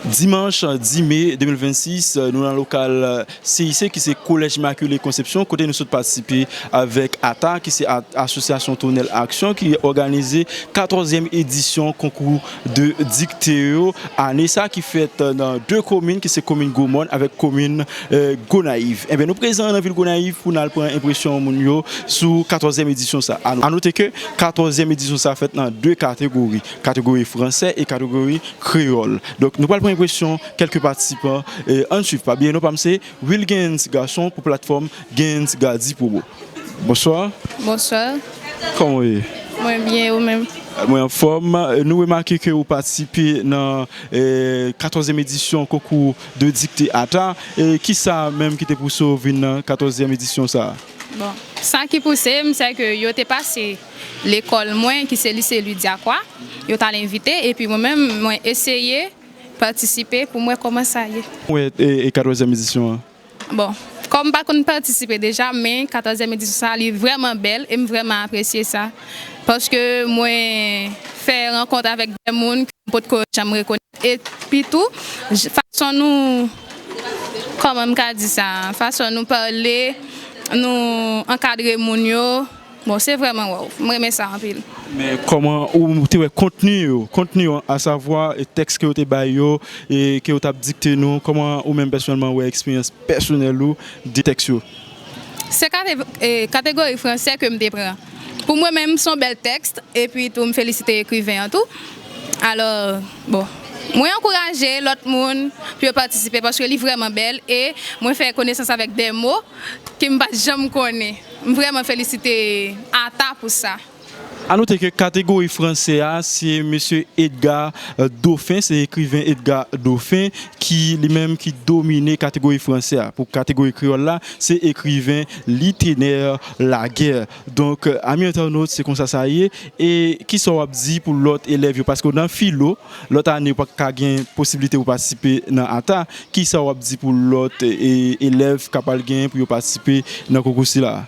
Dimanch 10 me 2026, nou nan lokal CIC ki se Collège Immaculée Conception kote nou sot patisipe avèk ata ki se Asosyasyon Tonnèl Aksyon ki òganize katòzyèm edisyon konkou de dikte yo ane sa ki fèt nan 2 komin ki se komin Gwo Mòn avèk komin Gonayiv. Enben nou prezan nan vil Gonayiv pou nal pran enpresyon moun yo sou katòzyèm edisyon sa. A note ke katòzyèm edisyon sa fèt nan 2 kategori. Kategori fransè e kategori kreyòl. Donk nou pral pran enpresyon kèlke patisipan. Ann suiv pa bliye non pa m se Wilguens Garçon pou platfòm Guens Gardy Promo. Bonswa. Bonswa. Kòman w ye? Mwen byen e ou menm? Mwen anfòm. Nou remake ke ou patisipe nan katòzyèm edisyon konkou de dikte ata. Kisa menm ki te pouse w vin nan katòzyèm edisyon sa a? Bon, sa ki pouse m sè ke yo te pase. Lekòl mwen ki se Lise Louis-Diacroix, yo t al envite epi mwen menm mwen eseye patisipe pou m wè kòman sa ye. Mwen e katòzyèm edisyon an. Bon, kòm m pa konn patisipe deja men katòzyèm edisyon sa li vrèman bèl e m vrèman apresye sa paske mwen fè rankont avèk dè moun ke m potko janm rekonèt epi tou fason nou kòman m ka di sa fason nou pale nou ankadre moun yo. Bon se vrèman waww m renmen sa anpil. Men kòman ou te wè kontni yo, kontni yo a savwa tèks ke yo te bay yo e ke yo tap dikte nou kòman ou menm pèsonèlman wè eksperyans pèsonèl ou de tèks yo? Se kategori fransè ke m te pran. Pou mwen menm son bèl tèks epi tou m felisite ekriven an tou alò bon mwen ankouraje lòt moun pou yo patisipe paske li vrèman bèl e mwen fè konesans avèk de mo ke m pat janm konnen. M vrèman felisite Ata pou sa. A note ke kategori franse a se mesye Edgar Dauphin, se ekriven Edgar Dauphin ki li menm ki domine kategori franse a. Pou kategori kreyòl la, se ekriven Litener Laguerre. Donk, ami entènot, se konsa sa ye. E kisa w ap di pou lòt elèv yo? Paske nan filo. Lòt ane ou pa ka gen posiblite pou patisipe nan ata, kisa w ap di pou lòt elèv k ap al gen pou yo patisipe nan konkou sila a?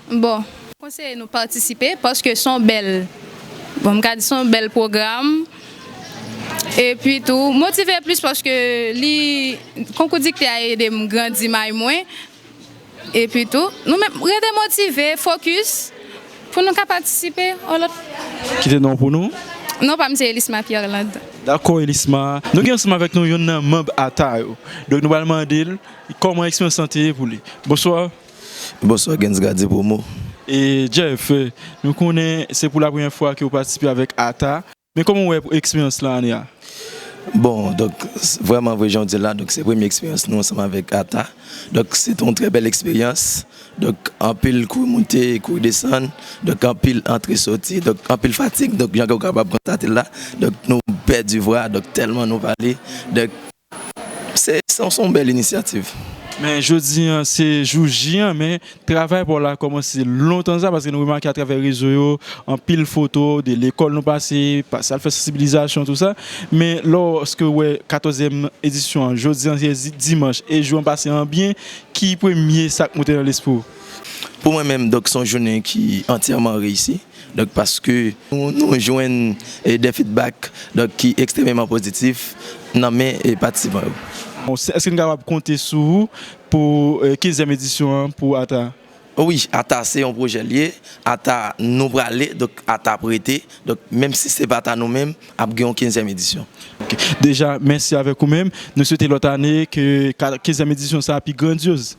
Bon, mwen konseye nou patisipe paske s on bèl, bon m ka di s on bèl pwogram epi tou motive plis paske li konkou dikte a ede m grandi may mwen Epi tou, nou menm, rete motive, fokis, pou nou ka patisipe yon lòt fwa. Kite non w pou nou. Non pa m se Elisma Pierlande. Dakò Elisma. Nou gen ansanm avèk nou youn nan manb ata yo. Donk nou pral mande l kòman eksperyans lan te ye pou li. Bonswa. Bonswa Gens Gardie Promo. E Jeff, nou konnen se pou lapremyè fwa ke ou patisipe avèk ata. Men kòman ou wè eksperyans lan ane a? Bon, donk, vrèman vre jan ou di l la, donk se premye eksperyans nou ansanm avèk ata. Donk se te yon trè bèl eksperyans. Donk anpil kou moute, kou desann, donk anpil antre soti, donk anpil fatig. Donk jan ke ou kapab konstate l la, donk nou pèdi vwa, donk tèlman nou pale. Se yon bèl inisyativ. Men jodi an se jou J an men travay pa w la kòmanse lontan deja paske nou remake atravè rezo yo anpil foto de lekòl nou pase, pase al fè sansibilizasyon tou sa men lòske w wè katòzyèm edisyon an jodi an se dimanch e jou an pase an byen ki premye sa k moute nan lespri w? Pou mwen menm donk se yon jounen ki antyèman reyisi Donk paske nou jwenn de fidbak ki ekstrememan pozitif nan men patisipan yo. Eske n kapab konte sou ou pou kenzyèm edisyon an pou ata? Wi, ata se yon pwojè l ye, ata nou prale, donk ata prete, donk menm si se pa ta nou menm ap gen yon kenzyèm edisyon. Deja, mèsi avèk ou menm. Nou swete lòt ane ke kenzyèm edisyon sa pi grandyoz.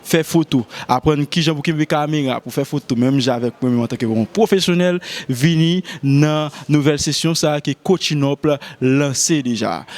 Fè foto, Aprann kijan pou kenbe kamera pou fè foto menm jan avèk mwen menm antanke yon pwofesyonèl, vini nan nouvèl sesyon sa ki Coaching Up lanse deja.